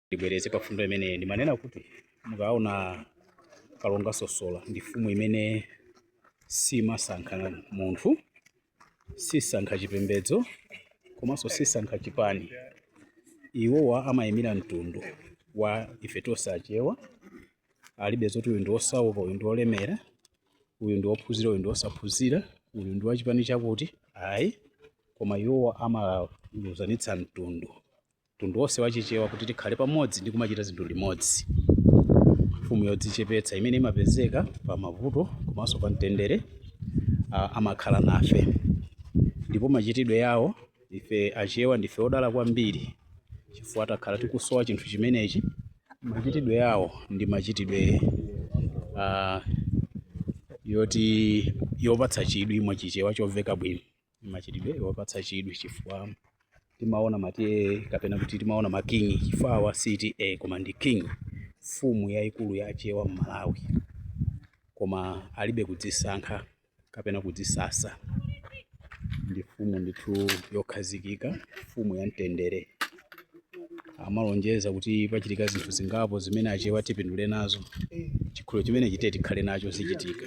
ndibwereze pa mfundo imene ndimanena kuti mukaona kalonga sosola ndi mfumu imene simasankha munthu sisankha chipembedzo komanso sisankha chipani iwowa amayimira mtundu wa ife tonse achewa alibe zoti uyu ndi wosauka uyu ndi wolemera uyu ndi wophunzira uyu ndi wosaphunzira uyu ndi wachipani chakuti ayi koma iwowa amaluzanitsa mtundu mtundu wonse wa Chichewa kuti tikhale pamodzi ndi kumachita zinthu limodzi. Mfumu yodzichepetsa imene imapezeka pa mavuto komanso pa mtendere ah, amakhala nafe ndipo machitidwe yawo ife Achewa ndife odala kwambiri chifukwa takhala tikusowa chinthu chimenechi. Machitidwe yawo ndi machitidwe ah, yoti yopatsa chidwi mwa Chichewa chomveka bwino. machitidwe opatsa chidwi chifukwa timaona ma TA kapena kuti timaona makingi chifukwa awa si TA koma ndi king mfumu yayikulu ya achewa m'malawi koma alibe kudzisankha kapena kudzisasa ndi mfumu ndithu yokhazikika mfumu ya mtendere amalonjeza kuti pachitika zinthu zingapo zimene achewa tipindule nazo chikhulupiriro chimenechi ti tikhale nacho zichitika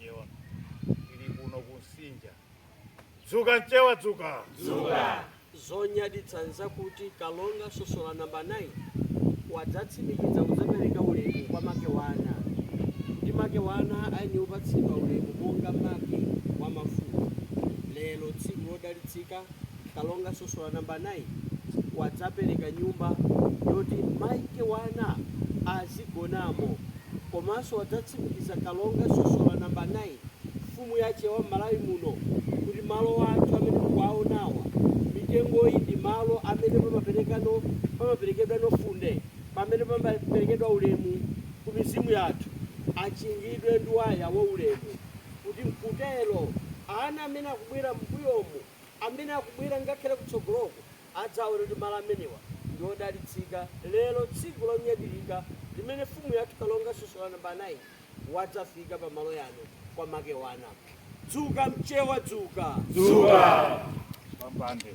Nyewa ili kuno ku Msinja dzuka mchewa dzuka dzuka zonyaditsa n'zakuti kalonga sosola namba 9 wadzatsimikiza kudzapereka ulemu kwa Makewana kuti Makewana ayenera kupatsidwa ulemu monga make wa mafumu lero tsiku lodalitsika Kalonga Sosola number 9 wadzapereka nyumba yoti Makewana azigonamo komanso wadzatsimikiza Kalonga Sosola number 9 mfumu ya Achewa m'Malawi muno kuti malo athu amene mukuwaonawa mitengoyi ndi malo amene pamaperekano pamaperekedwa Nofunde pamene pamaperekedwa ulemu ku mizimu yathu achingidwe ndi waya wa ulemu kuti m'kutero, ana amene akubwera m'mbuyomu, amene akubwera ngakhale kutsogoloku, adzaone kuti malo amenewa ndi odalitsika lero tsiku lonyadilika limene mfumu yathu kalonga Sosola Namba 9 wadzafika pa malo yano kwa Makewana. Dzuka mchewa dzuka! Dzuka! Pampande.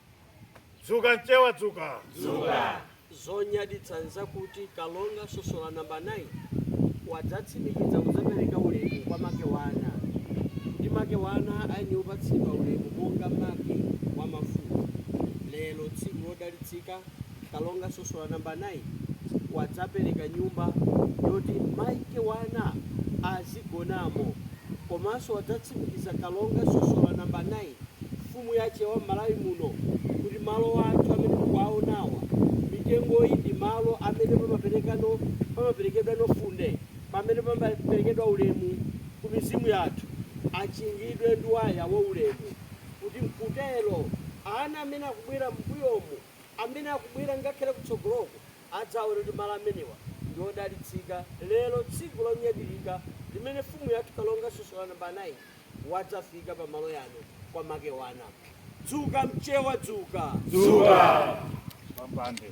Dzuka mchewa dzuka. Dzuka. zonyaditsa n'zakuti kalonga sosola namba 9 wadzatsimikiza kudzapereka ulemu kwa Makewana kuti Makewana ayenera kupatsidwa ulemu monga make wa mafumu lero tsiku lodalitsika Kalonga Sosola number 9 wadzapereka nyumba yoti Makewana azigonamo komanso wadzatsimikiza Kalonga Sosola number 9 mfumu ya Achewa m'Malawi muno kuti malo athu amene mukuwaonawa mitengoyi ndi malo amene pamaperekano pamaperekedwano funde pamene pamaperekedwa ulemu ku mizimu yathu achingidwe ndi waya wa ulemu kuti mkutero, ana amene akubwera m'mbuyomu, amene akubwera ngakhale kutsogoloko, adzaone kuti malo amenewa ndi odalitsika lero tsiku lonyadilika limene mfumu yathu kalonga Sosola number 9 wadzafika pa malo yano kwa Makewana. Dzuka mchewa dzuka! Dzuka! Pampande.